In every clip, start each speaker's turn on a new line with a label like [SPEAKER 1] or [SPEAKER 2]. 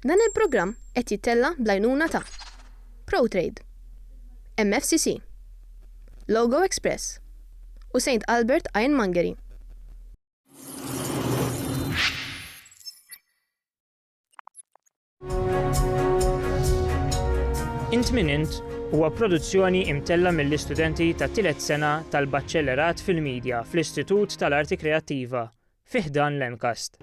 [SPEAKER 1] Dan il-programm qed jittella' bl-għajnuna ta' Protrade, MFCC, Logo Express u Saint Albert Ironmongery.
[SPEAKER 2] Int Min Int huwa produzzjoni imtella' mill-istudenti tat-tielet sena tal-Baċellerat fil-Media fl-Istitut tal-Arti Kreattiva fi ħdan l-MCAST.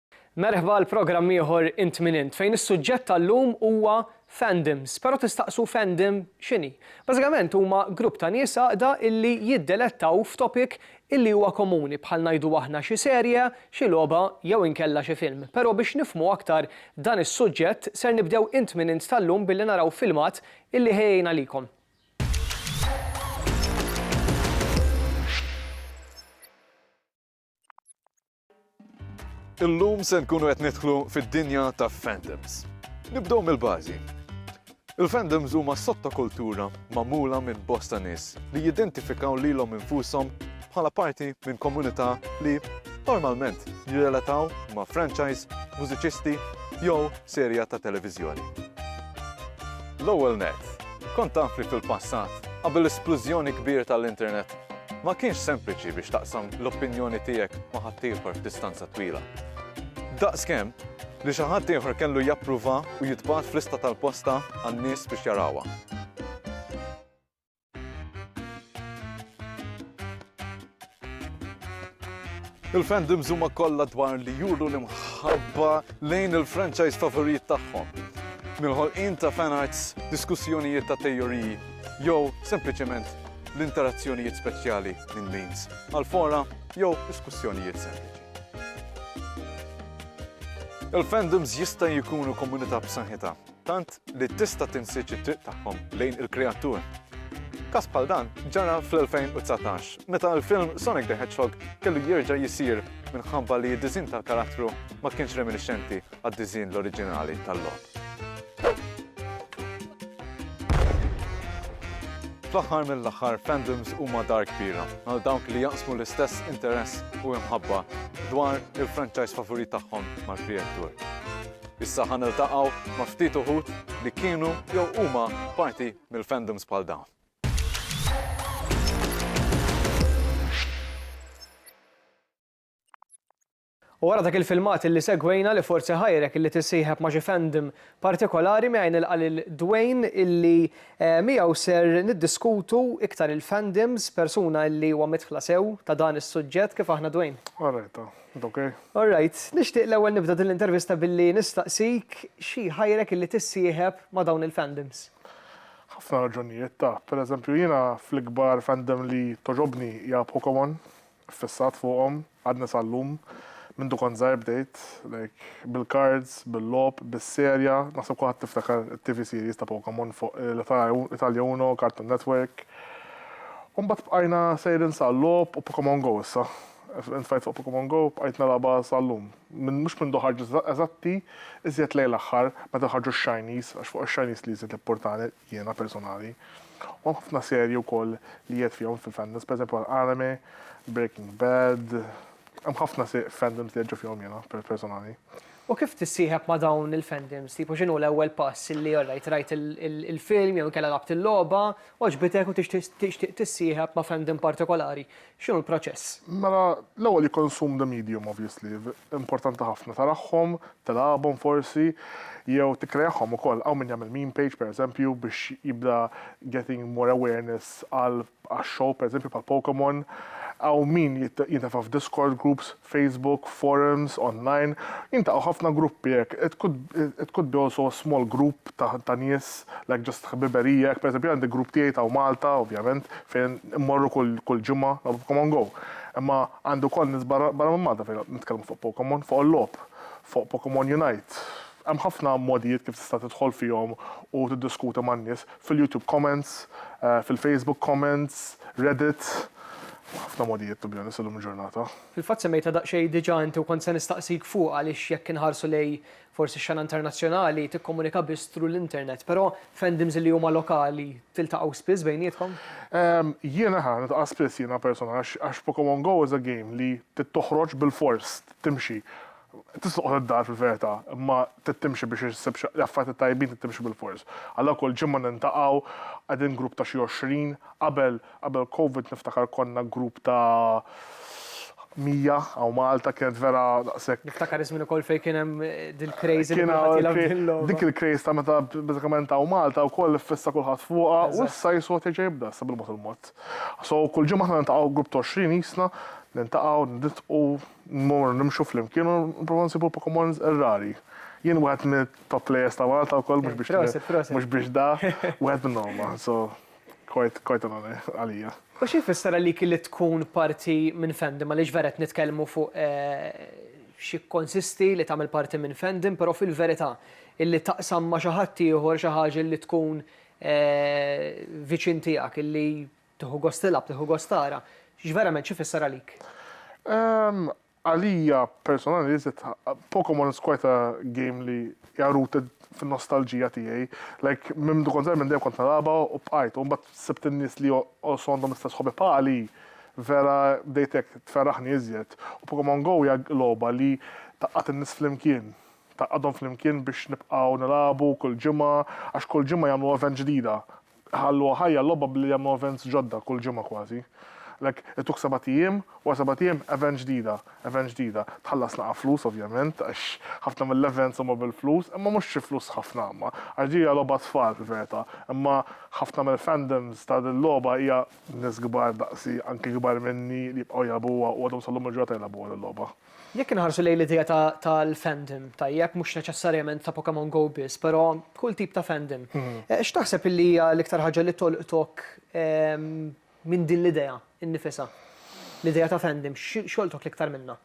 [SPEAKER 3] Merħba għal programm ieħor Int Min Int, fejn is-suġġett tal-lum huwa fandoms. Però tistaqsu fandom x'inhi? Bażikament huma grupp ta' nies għaqda illi jiddelettaw f'topic illi huwa komuni, bħal ngħidu aħna xi serje, xi logħba jew inkella xi film. Però biex nifhmu aktar dan is-suġġett, ser nibdew Int Min Int tal-lum billi naraw filmat illi ħejjejna għalikom.
[SPEAKER 4] Illum se nkunu qed nidħlu fid-dinja ta' fandoms. Nibdew mill-bażi. Il-fandoms huma sottokultura magħmula minn bosta nies li jidentifikaw lilhom infushom bħala parti minn komunità li normalment jirrelataw ma' franchise, mużiċisti jew serja ta' televiżjoni. L-ewwel net, kont taf li fil-passat, qabel l-isplużjoni kbir tal-internet, Ma kienx sempliċi biex taqsam l-opinjoni tiegħek ma' ħaddieħor f'distanza twila. Daqskemm li xi ħadd ieħor kellu japprova u jitbagħat f'lista tal-posta għan-nies biex jarawha. Il-fandoms huma kollha dwar li juru l-imħabba lejn il-franchise favorit tagħhom. Mill-ħolqien ta' fanarts, diskussjonijiet ta' teoriji, jew sempliċement l-interazzjonijiet speċjali minn memes għal fora jew diskussjonijiet sempliċi. Il-fandoms jista' jkunu komunità b'saħħitha, tant li tista' tinsiġ it-triq tagħhom lejn il-kreatur. Każ bħal dan ġara fl-2019, meta l-film Sonic the Hedgehog kellu jerġa' jisir minħabba li d-diżin tal-karattru ma kienx reminixxenti għad-diżin l-oriġinali tal-logħob. Fl-aħħar mill-aħħar, fandoms huma dar kbira għal dawk li jaqsmu l-istess interess u imħabba dwar il-franchise favurit tagħhom mal-kreatur. Issa ħa niltaqgħu ma' ftit uħud li kienu jew huma parti mill-fandoms bħal dawn.
[SPEAKER 3] U wara dak il-filmat illi segwejna li forsi ħajrek illi tissieħeb ma' xi fandom partikolari, miegħi nilqa' lil Dwayne illi miegħu ser niddiskutu iktar il-fandoms, persuna illi huwa midħla sew ta' dan is-suġġett. Kif aħna Dwayne? All right, ta. Int
[SPEAKER 5] okay? All right. Nixtieq
[SPEAKER 3] l-ewwel nibda din l-intervista billi nistaqsik xi ħajrek illi tissieħeb ma' dawn il-fandoms? Ħafna
[SPEAKER 5] raġunijiet ta. Per eżempju jiena fl-ikbar fandom li togħġobni hija Pokémon. ffissat fuqhom, għadni sal-lum, mindu kont żgħir bdejt, like, bil-cards, bil-logħob, bis-serja, naħseb kulħadd tiftakar it-TV series ta' Pokemon fuq l-Italia Uno, Cartoon Network. U mbagħad bqajna sejrin sal-logħob u Pokemon Go issa. Intfajt fuq Pokemon Go, bqajt nilagħba sal-lum. Mhux mindu ħarġet eżatti, iżjed lejn l-aħħar, meta ħarġu x-shinies, għax fuq ix-shinies li jżid li pportani, jiena personali. U hemm ħafna serji wkoll li qiegħed fihom fil-fandoms, pereżempju għal anime, Breaking Bad, hemm ħafna fandoms li qiegħed fihom jiena personali. U kif
[SPEAKER 3] tissieħeb ma' dawn il-fandoms? Tipo x'inhu l-ewwel pass li alright rajt il-film jew inkella labt il-logħba, għoġbitek u tixtieq tissieħeb ma' fandom partikolari. X'inhu l-proċess? Mela, l-ewwel
[SPEAKER 5] you consume the medium obviously, importanti ħafna, tarahom, tilgħabhom forsi, jew tikkreahom ukoll. Hawn min jagħmel meme page pereżempju biex jibda getting more awareness għal għax-show pereżempju bħal Pokemon. Hawn min jintefa' f'Discord groups Facebook, forums, online, jintaqgħu ħafna gruppi hekk, it could, it could be also a small group ta' ta' nies, like just ħbiberija, hekk pereżempju għandi grupp tiegħi ta' Malta, ovvjament, fejn immorru kull kull ġimgħa nagħmlu Pokemon Go. Imma għandi wkoll nies barra barra minn Malta fejn nitkellmu fuq Pokemon, fuq il-logħob, fuq Pokemon Unite, Hemm ħafna modijiet kif tista' tidħol fihom u tiddiskuti man-nies, fil-YouTube comments, fil-Facebook comments, Reddit. Hemm ħafna modijiet to be honest illum il-ġurnata. Fil-fatt semmejtha daqsxejn
[SPEAKER 3] diġà inti u kont se nistaqsik fuqha għaliex jekk inħarsu lejn forsi x-xena internazzjonali tikkomunika biss through l-internet, però fandoms li huma lokali tiltaqgħu spiss bejnietkom? Jiena
[SPEAKER 5] eħe, niltaqa' spiss jiena personal għax Pokémon Go is a game li trid toħroġ bilfors, timxi. Tista' toqgħod id-dar fil-verità, imma trid timxi biex issib xi l-affarijiet it-tajbin trid timxi bil-fors. Allura kull ġimgħa niltaqgħu, qegħdin grupp ta' xi għoxrin, qabel qabel Covid niftakar konna grupp ta' mija hawn Malta, kienet vera daqshekk. Niftakar iż-żmien ukoll fejn
[SPEAKER 3] kien hemm dil-craze li kulħadd jilgħab din il-logħba.
[SPEAKER 5] Dik il-craze ta' meta bażikament hawn Malta wkoll iffissa kulħadd fuqha u issa qisu qed jerġa' jibda issa bil-mod il-mod. So kull ġimgħa aħna niltaqgħu grupp ta' għoxrin qisna, niltaqgħu, nidqu, Mmorru nimxu flimkien u nipprova nsibu Pokémons rari. Jien wieħed mit-top players ta' Malta wkoll mhux biex. Proset, proset. Mhux biex da, wieħed minnhom, so quite, quite an honour għalija. U xi jfisser
[SPEAKER 3] għalik li tkun parti minn fandom għaliex vera qed nitkellmu fuq x'jikkonsisti li tagħmel parti minn fandom, però fil-verità illi taqsam ma' xi ħadd ieħor xi ħaġa li tkun viċin tiegħek, illi Tieħu gost tilgħab, tieħu gost tara. X'verament x'ifisser għalik? Għalija
[SPEAKER 5] personali iżjed Pokemon is quite a game li hija rooted fin-nostalġija tiegħi. Like minn kont żgħir minn dejjem kont nilgħabha u bqajt. U mbagħad sibt in-nies li also għandhom l-istess ħobi bħali vera bdejt hekk tferraħni iżjed. U Pokemon Go hija logħba li tgħaqqad in-nies flimkien. Tgħaqqadhom flimkien biex nibqgħu nilagħbu kull ġimgħa għax kull ġimgħa jagħmlu event ġdida. Ħalluha ħajja l-logħba billi jagħmlu events ġodda kull ġimgħa kważi. Like, ituk sebat ijiem, wara sebat ijiem event ġdida, event ġdida. Tħallas naqa' flus ovvjament għax ħafna mill-events huma bil-flus, imma mhux xi flus ħafna imma, għax din hija logħba tfal fil-verità, imma ħafna mill-fandoms ta' dil-logħba hija nies kbar daqsi, anki kbar minni li jibqgħu jilagħbuha u għadhom sal-lum il-ġurnata jilagħbuha dil-logħba. Jekk inħarsu lejn
[SPEAKER 3] l-idea tal-fandom, tajjeb, mhux neċessarjament ta' Pokémon Go biss, però kull tip ta' fandom, x'taħseb illi hija l-iktar ħaġa li tolqtok minn din l-idea innifisha? L-idea ta' fandom, x'jolqtok l-iktar minnha?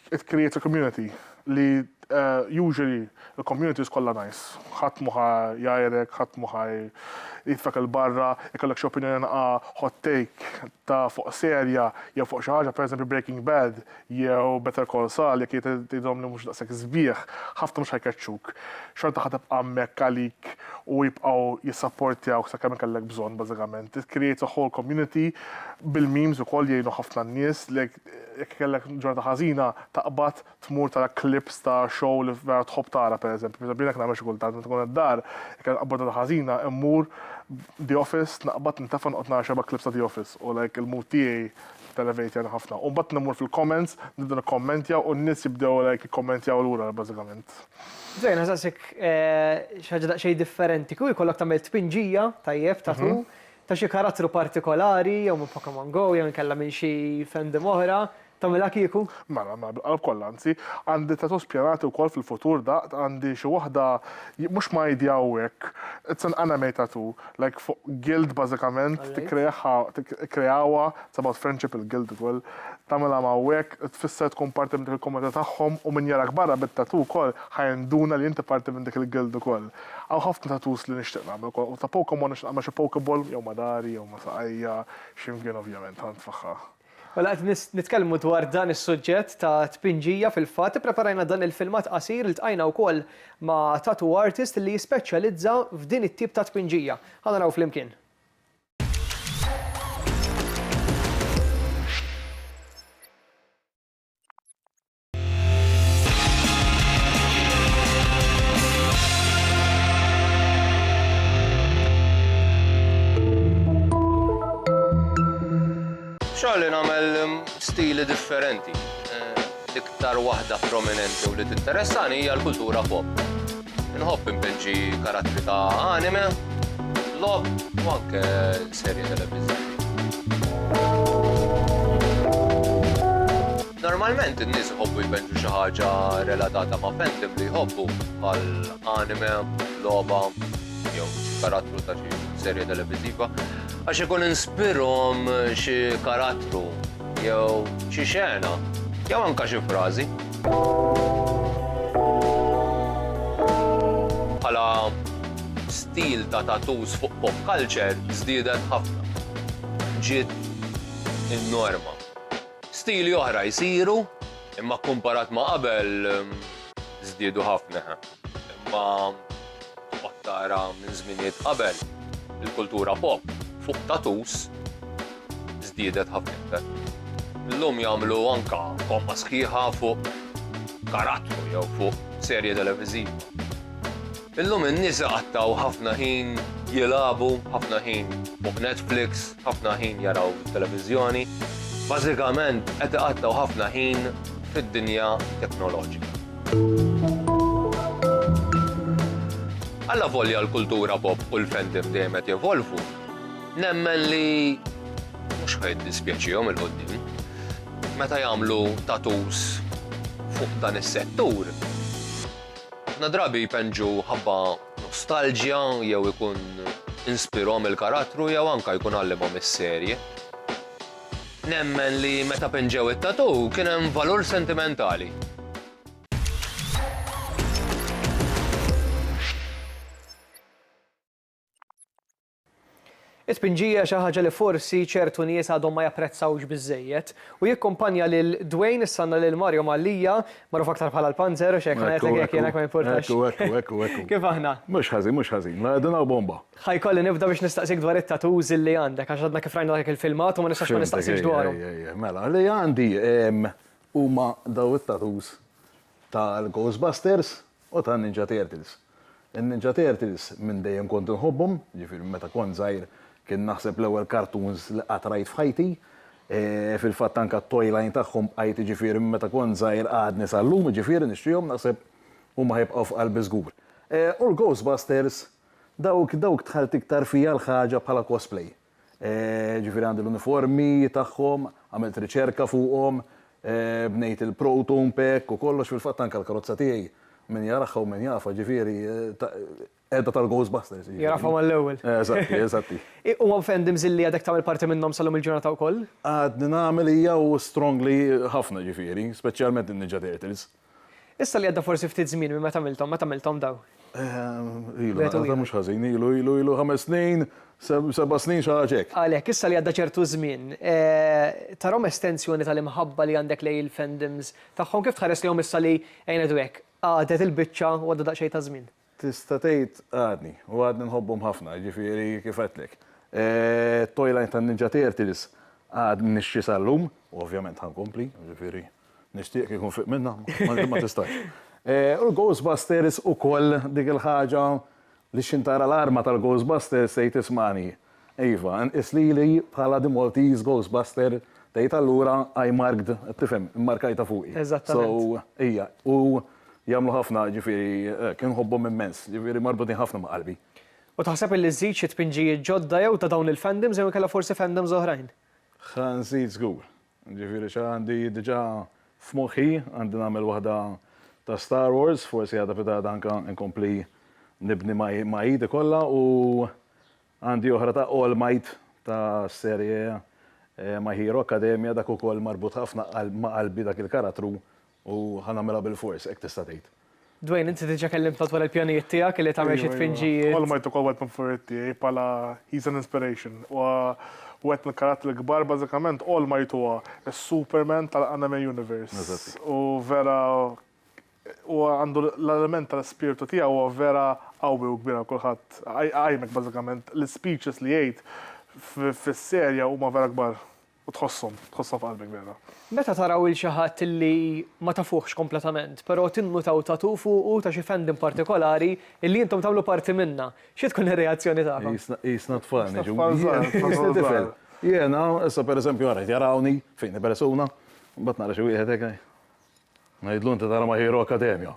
[SPEAKER 5] It creates a community li usually il-communities kollha nice. Ħadd mhu ħa jgħajrek, ħadd mhu ħa jitfgħek 'il barra, jekk ikollok xi opinjoni naqgħa hot take ta' fuq serja jew fuq xi ħaġa, pereżempju Breaking Bad jew Better Call Saul, jekk tgħidhom li mhux daqshekk sbieħ, ħafna mhux ħajkeċċuk. Xorta ħa tibqa' hemmhekk għalik u jibqgħu jissapportjawk sakemm ikollek bżonn bażikament. It creates a whole community bil-memes ukoll jgħinu ħafna n-nies, jekk ikollek ġurnata ħażina taqbad tmur tara clips ta' show li vera tħobb tara pereżempju, pereżempju jien hekk nagħmel xi kultant meta nkun qed d-dar, jekk qed nqabbad waħda ħażina immur The Office, naqbad nintefa' noqgħod nara xi erba' clips ta' The Office u like il-mood tiegħi televate jagħni ħafna. U mbagħad immur fil-comments, nibda nikkommentja u n-nies jibdew like jikkommentjaw lura bażikament. So jiena nsaqsik
[SPEAKER 3] xi ħaġa daqsxejn differenti, kieku jkollok tagħmel tpinġija, tajjeb, tattoo, ta' xi karattru partikolari jew minn Pokémon Go jew inkella minn xi fandom oħra, tagħmilha kieku? Mela, mela bil-qalb
[SPEAKER 5] kollha anzi, għandi tattoo spjanati wkoll fil-futur daqt għandi xi waħda mhux mgħajdja hawnhekk, it's an anime tattoo, like fuq guild bażikament, tikkreaha, tikkreawha, it's about friendship il-guild ukoll, tagħmilha m'hawnhekk, tfisser tkun parti minn dik il-komunità tagħhom u min jarak barra bit-tattoo wkoll ħa jinduna li inti parti minn dik il-guild ukoll. Hawn ħafna tattoos li nixtieq nagħmel ukoll u ta' Pokemon nixtieq nagħmel xi Pokeball jew ma' dahri jew ma' saqajja, x'imkien ovvjament tant tfaħħa. Mela qed
[SPEAKER 3] nitkellmu dwar dan is-suġġett ta' tpinġija fil-fatt ippreparajna dan il-filmat qasir iltqajna wkoll ma' tattoo artist li jispeċjalizza f'din it-tip ta' tpinġija. Ħa naraw flimkien.
[SPEAKER 6] Xogħol nagħmel um, stili differenti. Eh, l-iktar waħda prominenti u li tinteressani hija l-kultura pop. Inħobb impeġġi karattri ta' anime, lob u anke serje televiżivi. Normalment in-nies iħobbu jbenġu xi ħaġa relatata ma' fandom li jħobbu bħal anime, logħba, jew karattru ta' xi serje televiżiva għax ikun inspirhom xi karattru jew xi xena jew anke xi frażi. Bħala stil ta' tattoos fuq pop culture żdiedet ħafna. Ġiet in-norma. Stili oħra jsiru, imma kkumparat ma' qabel żdiedu ħafna eħe. Imma tqgħod tara minn żminijiet qabel il-kultura pop fuq tatus żdiedet ħafna iktar. Illum jagħmlu anka komma sħiħa fuq karattru jew fuq serje televiżiva. Illum in-nies iqattgħu ħafna ħin jilagħbu, ħafna ħin fuq Netflix, ħafna ħin jaraw televiżjoni. Bażikament qed iqattgħu ħafna ħin fid-dinja teknoloġika. Alla volja l-kultura pop u l-fandom dejjem qed jevolvu, nemmen li mhux ħed dispjaċihom il-qoddim. Meta jagħmlu tattoos fuq dan is-settur, Ħafna drabi jpenġu ħabba nostalġja jew ikun inspirhom il-karattru jew anka jkun għallimhom is-serje. Nemmen li meta penġew it-tatu kien hemm valur sentimentali.
[SPEAKER 3] It-tpinġija hija xi ħaġa li forsi ċertu nies għadhom ma japprezzawx biżżejjed. U jikkumpanja lil Dwayne issanna lil Mario Mallia, magħruf aktar bħala l-Panzer, għax hekk ħa ngħidlek hekk jiena jekk ma jimpurtax. Ekku, ekku, ekku, ekku. Kif
[SPEAKER 4] aħna? Mhux
[SPEAKER 3] ħażin, mhux ħażin.
[SPEAKER 4] Mela din hawn bomba. Ħa jkolli nibda biex
[SPEAKER 3] nistaqsik dwar it-tattoos li għandek, għax għadna kif rajna dak il-filmat u ma nistax ma nistaqsikx dwarhom. Fhimtek, ejja, ejja, mela. Li għandi
[SPEAKER 4] huma dawn it-tattoos tal-Ghostbusters, u ta' Ninja Turtles. In-Ninja Turtles minn dejjem kont inħobbhom, jiġifieri meta kont żgħir kien naħseb l-ewwel cartoons li qatt rajt f'ħajti. Fil-fatt anke t-toy line tagħhom bqajt jiġifieri minn meta kont żgħir għadni sal-lum jiġifieri nixtrihom naħseb huma ħajbqgħu f'qalbi żgur. U l-Ghostbusters dawk dawk dħalt iktar fija l-ħaġa bħala cosplay. Ġifieri għandi l-uniformi tagħhom, għamilt riċerka fuqhom, bnejt il-proton pack u kollox, fil-fatt anke l-karozza tiegħi min jarahha u min jafha, ġifieri qiegħda tal-Ghostbusters. Jagħrafhom għall-ewwel.
[SPEAKER 3] Eżatti, eżatti.
[SPEAKER 4] Huma fandoms
[SPEAKER 3] li għadek tagħmel parti minnhom sal-lum il-ġurnata wkoll? Għadni nagħmel
[SPEAKER 4] hija u strongly ħafna ġifieri, speċjalment in-Ninja Turtles. Issa li għadda
[SPEAKER 3] forsi ftit żmien minn meta għamilthom, meta għamilthom dawn? Ilu,
[SPEAKER 4] għadda mhux ħażin, ilu, ilu, ilu ħames snin, seba' snin xi ħaġa hekk. Għalhekk, issa li għadda ċertu
[SPEAKER 3] żmien, tarahom estensjoni tal-imħabba li għandek lejn il-fandoms tagħhom? Kif tħares lejhom issa li, ejja ngħidu hekk, għadet il-biċċa u għadda daqsxejn ta' żmien? Tista' tgħid
[SPEAKER 4] għadni, u għadni nħobbhom ħafna, jiġifieri kif għedtlek. It-toy line tan-Ninja Turtles għad mnixxi sal-lum, u ovvjament ħa nkompli, jiġifieri nixtieq kieku nfiq minnha, imma ma tistax. U l-Ghostbusters ukoll dik il-ħaġa li x'intara l-arma tal-Ghostbusters tgħid ismagħni, Iva, inqis lili bħala the Maltese Ghostbuster, tgħid allura I marked, tifhem, immarkajtha fuqi. Eżattament. So,
[SPEAKER 3] hija.
[SPEAKER 4] U jagħmlu ħafna, jiġifieri hekk, inħobbhom immens, jiġifieri marbutin ħafna ma' qalbi. U taħseb illi
[SPEAKER 3] żżid xi tpinġijiet ġodda jew ta' dawn il-fandoms jew inkella forsi fandoms oħrajn? Ħa nżid
[SPEAKER 4] żgur. Jiġifieri xa għandi diġà f'moħħi, għandi nagħmel waħda ta' Star Wars, forsi għada pitada anke inkompli nibni ma' idi kollha u Għandi oħra ta' All Might ta' serie My Hero Academia dak ukoll marbut ħafna ma' qalbi dak il-karattru u ħa nagħmilha bil-fors hekk tista' tgħid. Dwayne inti diġa
[SPEAKER 3] kellimtna dwar il-pjanijiet tiegħek li tagħmel xi tpinġijiet. All Might ukoll wieħed mill-favoriet
[SPEAKER 5] tiegħi bħala he's an inspiration huwa wieħed mill-karattri l-kbar bażikament All Might huwa s-Superman tal-anime universe u vera huwa għandu l-element tal-ispirtu tiegħu huwa vera qawwi u kbir għal kulħadd. Iqajmek bażikament l-speeches li jgħid fis-serje huma vera kbar u tħosshom, tħosshom f'qalbek vera. Meta taraw lil xi
[SPEAKER 3] ħadd li ma tafuhx kompletament, però tinnutaw tattoo fuqu ta' xi fandom partikolari illi intom tagħmlu parti minnha, xi tkun ir-reazzjoni tagħkom? Qisna tfal niġu.
[SPEAKER 4] Qisni tifel. Jiena, issa pereżempju ara qed jarawni f'ini persuna, imbagħad nara xi wieħed hekk. Ngħidlu inti tara My Hero Academia?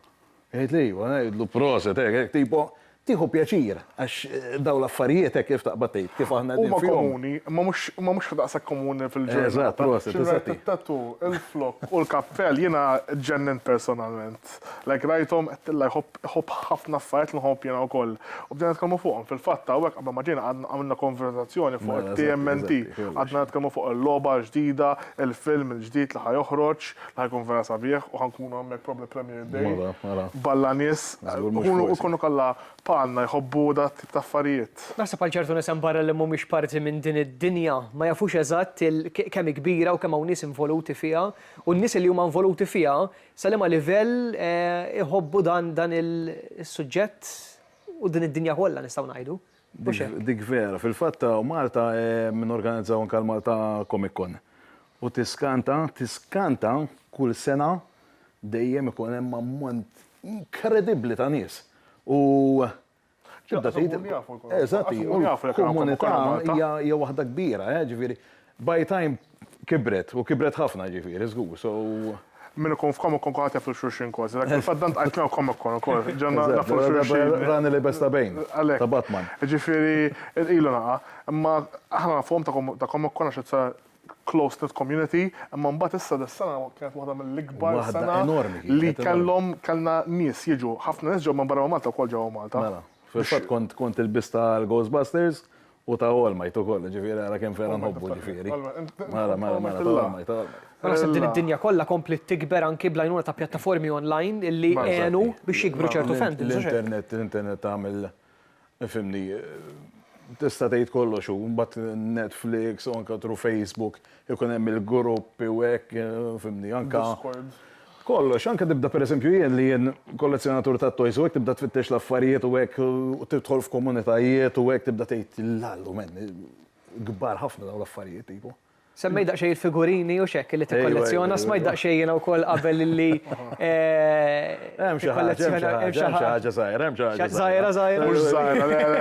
[SPEAKER 4] Jgħidli iva, ngħidlu proset hekk hekk tipo tieħu
[SPEAKER 7] pjaċir għax dawn l-affarijiet hekk kif taqbad tgħid kif aħna qegħdin fihom. Huma komuni, imma
[SPEAKER 5] mhux
[SPEAKER 7] imma
[SPEAKER 5] mhux daqshekk komuni fil-ġurnata. Eżatt, proset, eżatt.
[SPEAKER 7] It-tattoo, il-flokk
[SPEAKER 5] u l-kappell jiena ġġennint personalment. Like rajthom għedt Alla jħobb iħobb ħafna affarijiet li nħobb jiena wkoll. U bdejna nitkellmu fuqhom. Fil-fatt hawnhekk qabel ma ġejna qgħadna għamilna konverżazzjoni fuq it-TMNT. Qgħadna nitkellmu fuq il-logħba l-ġdida, il-film il-ġdid li ħa joħroġ, Ħa jkun vera sabiħ u ħa nkunu hemmhekk probably Premier Day. Mela, mela. Balla nies, nkunu nkunu kollha bħalna jħobbu da tip ta' affarijiet. Naħseb għal ċertu nies hemm
[SPEAKER 3] barra li mhumiex parti minn din id-dinja, ma jafux eżatt il kemm hi kbira u kemm hawn nies involuti fiha, u n-nies li huma involuti fiha sa liema livell iħobbu dan dan is-suġġett u din id-dinja kollha nistgħu ngħidu. Dik vera.
[SPEAKER 7] Fil-fatt hawn Malta norganizzaw anke l-Malta Comic Con. U tiskanta, tiskanta kull sena dejjem ikun hemm ammont inkredibbli ta' nies. U x'tibda tgħid? Eżatt, il-komunità hija waħda kbira, ġifieri By time kibret, u kibret ħafna jiġifieri, żgur, so. Min ikun
[SPEAKER 5] f'Com ikun kulħadd jaf lil xulxin kważi, like fil-fatt dan tqajtna u Comic Con ukoll, ġa nafu lil xulxin. Rani li best ta'
[SPEAKER 7] Bane, ta' Batman. Jiġifieri
[SPEAKER 5] ilu naqa', imma aħna nafuhom ta' Comic Con għax it's a close knit community, imma mbagħad issa dis-sena kienet waħda mill-ikbar sena li kellhom kellna nies jiġu, ħafna nies ġew minn barra ma' Malta wkoll ġewwa Malta. Mela, fil-fatt
[SPEAKER 7] kont ilbista l-Ghostbusters U ta' All Might ukoll, ġifieri ara kemm vera nħobbu, ġifieri. Mela, mela, mela, ta' All Might, ta' All Might. Naħseb din id-dinja
[SPEAKER 3] kollha kompliet tikber anki bl-għajnuna ta' pjattaformi online illi għenu biex jikbru ċertu fandoms. L-internet, l-internet tagħmel,
[SPEAKER 7] ifhimni, tista' tgħid kollox hu, imbagħad Netflix u anke through Facebook, Ikun hemm il-gruppi u hekk, fimni, anka. Discord. Kollox, anka tibda pereżempju jien li jien kollezzjonatur ta' toys u hekk tibda tfittex l-affarijiet u hekk u tidħol f'komunitajiet u hekk tibda tgħid l-Allu men, kbar ħafna dawn l-affarijiet tipu. Semmejt daqsxejn
[SPEAKER 3] il-figurini u x'hekk li tikkollezzjona, smajt daqsxejn jiena wkoll qabel li
[SPEAKER 7] Hemm xi ħaġa, hemm xi ħaġa żgħira, hemm xi ħaġa żgħira. Żgħira, żgħira. Mhux żgħira, le,
[SPEAKER 3] le.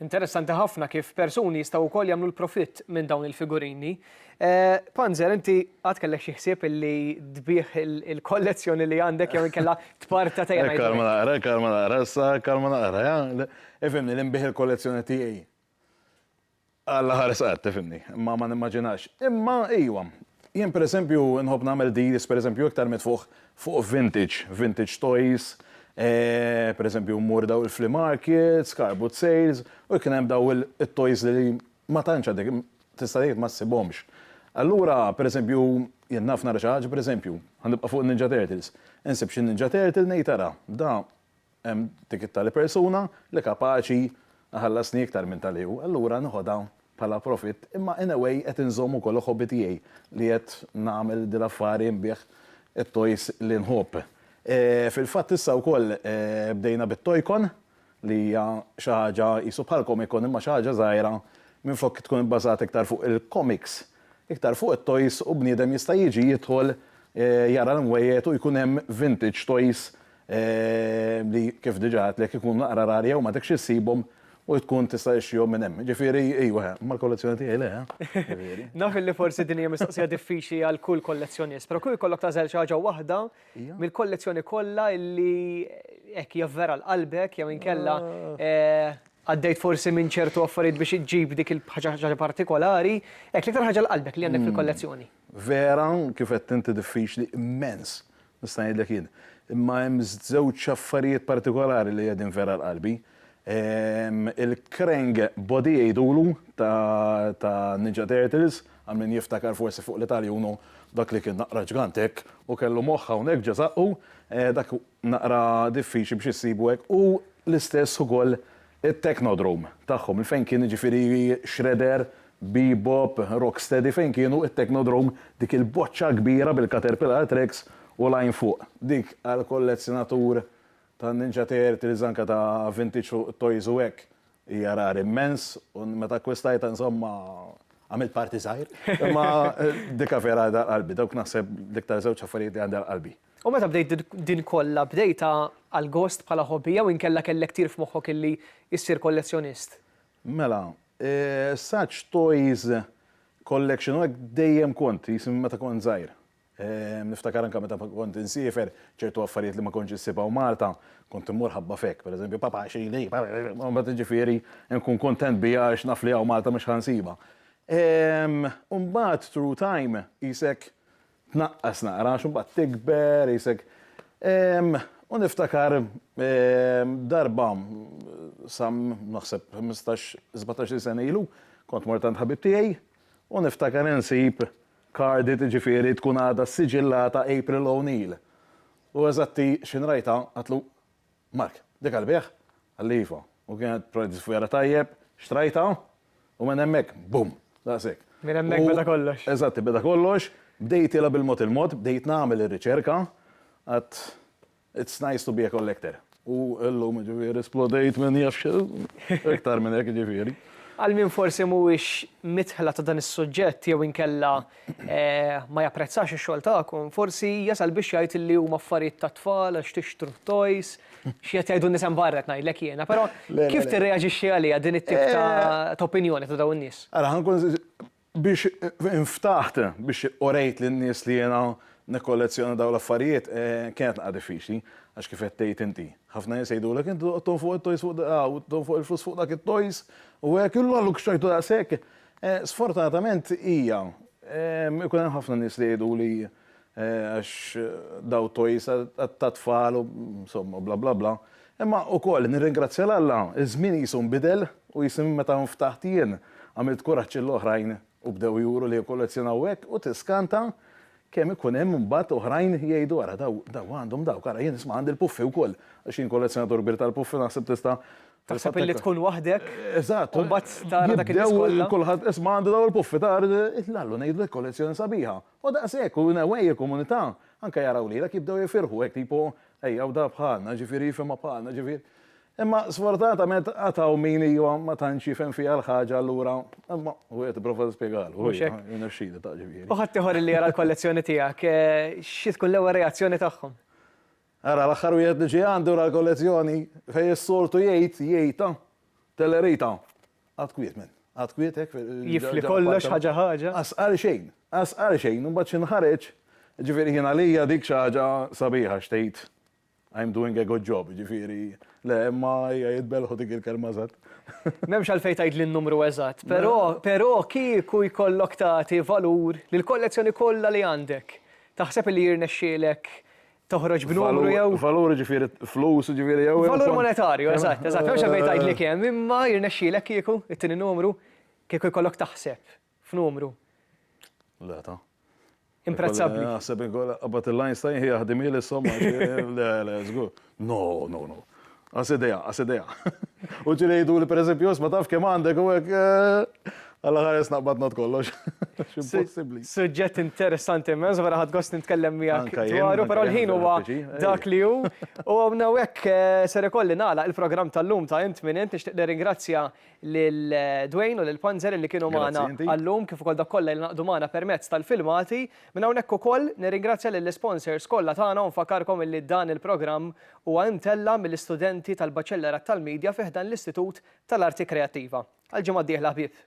[SPEAKER 3] Interessanti ħafna kif persuni jistgħu wkoll jagħmlu l-profitt minn dawn il-figurini. Eh, Panzer, inti għad kellek xi ħsieb illi tbih il-kollezzjoni li għandek jew inkella tparta ta' jgħid. Kalma naqra, kalma naqra,
[SPEAKER 7] sa kalma naqra, ja. Ifimni li nbih il-kollezzjoni tiegħi. Alla ħares qatt, tifhimni. Imma ma nimmaġinax. Imma, ijwa. Jien pereżempju nħobb nagħmel deals, pereżempju iktar mitfugħ fuq vintage, vintage toys, pereżempju mmur daw il-flea markets, car boot sales, u jkun hemm daw it-toys li ma tantx għad tista' tgħid ma ssibhomx. Allura, pereżempju, jien naf nara xi ħaġa, pereżempju, ħa nibqa' fuq in-Ninja Turtles, insib xi Ninja Turtle ngħid ara, da Hemm dik it-tali persuna li kapaċi iħallasni iktar minn tali u allura nieħodha bħala profitt imma in a way qed inżomm ukoll il-hobby tiegħi li qed nagħmel din l-affari nbigħ it-toys li nħobb. Fil-fatt issa wkoll bdejna bit-Toycon li hija xi ħaġa qisu bħal Comicon imma xi ħaġa żgħira minflok tkun ibbażata iktar fuq il-comics iktar fuq it-toys u bniedem jista' jiġi jidħol jara l-imwejjed u jkun hemm vintage toys li kif diġa għedtlek ikunu naqra rari jew m'għadekx issibhom u tkun tista' ixtrihom minn hemm. Jiġifieri ejwa, imma l-kollezzjoni tiegħi le, jiġifieri. Naf li forsi
[SPEAKER 3] din hija mistoqsija diffiċli għal kull kollezzjonist, però kieku jkollok tagħżel xi ħaġa waħda mill-kollezzjoni kollha li hekk hija vera għal qalbek jew inkella għaddejt forsi minn ċertu affarijiet biex iġġib dik il-ħaġa partikolari, hekk l-iktar ħaġa għal qalbek li għandek fil-kollezzjoni. Vera,
[SPEAKER 7] kif għedt inti diffiċli immens, nista' ngħidlek jien. Imma hemm żewġ affarijiet partikolari li qegħdin vera għal qalbi. Il-Krang Body jgħidulu ta' Ninja Turtles, għal min jiftakar forsi fuq l-Italiano dak li kien naqra ġgant hekk u kellu moħħ hawn hekk ġo żaqqu, dak naqra diffiċli biex issibu hekk u l-istess ukoll it-Technodrome tagħhom il fejn kien jiġifieri Shredder, Bebop, Rocksteady fejn kienu it-Technodrome dik il-boċċa kbira bil-Caterpillar tracks u lajn fuq. Dik għal kollezzinatur ta' Ninja Turtles anke ta' vintage u toys u hekk hija rari immens u meta akkwistajtha insomma għamilt party żgħir imma dik vera għal qalbi dawk naħseb l-iktar żewġ affarijiet li għandi għal qalbi. U meta bdejt
[SPEAKER 3] din kollha, bdejtha għal gost bħala hobby jew inkella kellek tir f'moħħok illi issir kollezzjonist? Mela,
[SPEAKER 7] Such Toys Collection u hekk dejjem kont, jisni minn meta kont żgħir. Niftakar anke meta kont insiefer, ċertu affarijiet li ma kontx issib hawn Malta, kont immur ħabba f'hekk. Per eżempju, Papa, x'hi di? Mbagħad jiġifieri nkun kuntent biha għax naf li hawn Malta mhux ħa nsibha. U mbagħad through time qisek Tnaqqas naqra għax imbagħad tikber qisek u niftakar darba sa naħseb ħmistax, sbatax-il sena ilu kont mort għand ħabib tiegħi u niftakar insib card it ġifieri tkun għadha ssiġillata April O'Neill. U eżatti x'ħin rajtha, għadtlu, Mark, Dik għall-bejgħ? Qalli iva, u kienet probabbli tisfujara tajjeb, xtrajtha u minn hemmhekk, boom, daqshekk. Minn hemmhekk beda
[SPEAKER 3] kollox. Eżatt, beda kollox,
[SPEAKER 7] bdejtilha bil-mod il-mod, bdejt nagħmel ir-riċerka, għad it's nice to be a collector. U llum, jiġifieri, splodejt minn jaf x'hekk, iktar minn hekk, jiġifieri. Għal min forsi
[SPEAKER 3] mhuwiex midħla ta' dan is-suġġett jew inkella ma japprezzax ix-xogħol tagħkom, forsi jasal biex jgħid li huma affarijiet tat-tfal għax tixtru t-toys, xi qed jgħidu n-nies hemm barra qed ngħidlek jiena, però kif tirreaġixxi għaliha din it-tip ta' opinjoni ta' dawn in-nies? Ara, ħa nkun
[SPEAKER 7] biex inftaħt biex urejt lin-nies li jiena nikkollezzjona dawn l-affarijiet, kienet naqra diffiċli għax kif qed tgħid inti, ħafna nies jgħidulek inti toqgħod tonfoq it-toys fuq hawn, tonfoq il-flus fuq dak it-toys u hekk, u allura x'rajtu daqshekk? Sfortunatament hija. Ikun hemm ħafna nies li jgħiduli għax daw toys tat-tfal u insomma bla bla bla. Imma ukoll nirringrazzja 'l Alla, iż-żmien qisu nbidel u jisni minn meta nftaħt jien, għamilt kuraġġ lill-oħrajn u bdew juru li jikkollezzjonaw hekk u tiskanta Kemm ikun hemm imbagħad oħrajn jgħidu ara daw daw għandhom dawk, ara jien isma' għandi l-puffi wkoll, għax jien kollezzjonatur kbir tal-puffi naħseb tista' Taħseb illi tkun
[SPEAKER 3] waħdek Eżatt. u mbagħad
[SPEAKER 7] tara dak in-nies
[SPEAKER 3] Jibdew kollha. kulħadd isma' għandi daw
[SPEAKER 7] il-puffi tar illallu ngħidlu hekk kollezzjoni sabiħa. U daqshekk u in a way il-komunità anke jaraw lilek jibdew jifirħu hekk tipo ejja u da bħalna ġifieri jifhimha bħalna ġifieri Imma sfortunatament għad hawn min iva ma tantx jifhem fiha l-ħaġa allura imma hu qed jipprova jispjegalu. Mhux hekk? Irnexxieli
[SPEAKER 3] ta' ġifieri. U
[SPEAKER 7] ħaddieħor li jara
[SPEAKER 3] l-kollezzjoni tiegħek, xi tkun l-ewwel reazzjoni tagħhom? Ara
[SPEAKER 7] l-aħħar wieħed li ġie għandi u ra l-kollezzjoni fejn is-soltu jgħid, jgħid, ah, Telerita, qagħad kwiet min. Qagħad kwiet hekk. Jifli kollox
[SPEAKER 3] ħaġa ħaġa. Qas qal xejn,
[SPEAKER 7] qas qal xejn, imbagħad xi nħareġ, ġifieri jien għalija dik xi ħaġa sabiħa x'tgħid I'm doing a good job, jiġifieri, le, imma hija jitbellħu dik il-kelma eżatt. M'hemmx għalfejn
[SPEAKER 3] tgħidli n-numru eżatt, però, però kieku jkollok tagħti valur lill-kollezzjoni kollha li għandek, taħseb li jirnexxielek toħroġ b'numru jew? Valur jiġifieri
[SPEAKER 7] flus jiġifieri jew. Valur monetarju, eżatt,
[SPEAKER 3] eżatt, m'hemmx għalfejn tgħidli kemm, imma jirnexxielek kieku it-tieni numru kieku jkollok taħseb. f'numru. Le
[SPEAKER 7] ta'. Imprezzabbli.
[SPEAKER 3] Naħseb inkolla
[SPEAKER 7] qabad il-Einstein hija ħdimiel is-somma. Le, le, żgur. No, no, no. Għas idea, għas idea. U ġiri jgħidu li pereżempju ma taf kemm għandek u hekk eh, Alla ħares naqbad not kollox. Impossibbli. Suġġett
[SPEAKER 3] interessanti immens, vera ħad gost nitkellem miegħek dwaru, però l-ħin huwa dak li hu. U hawnna hekk eh, ser ikolli nagħlaq il-programm tal-lum ta' int minn int nixtieq nirringrazzja lil Dwayne u lil Panzer li kienu magħna għallum kif ukoll dak kollha li naqdu magħna permezz tal-filmati. Minn hawnhekk ukoll nirringrazzja lill-isponsors kollha tagħna u nfakkarkom illi dan il-programm huwa imtella' mill-istudenti tal-Baċellerat tal-Media fi ħdan l-Istitut tal-Arti Kreattiva. Għall-ġimgħa d-dieħla ħbieb.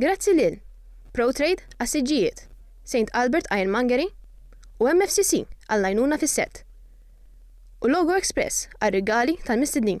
[SPEAKER 1] Grazzi lil, Proutrade għas-siġġijiet, Saint Albert Ironmongery u MFCC għall-għajnuna fis-sett, u Logo Express għar-rigali tal-mistednin.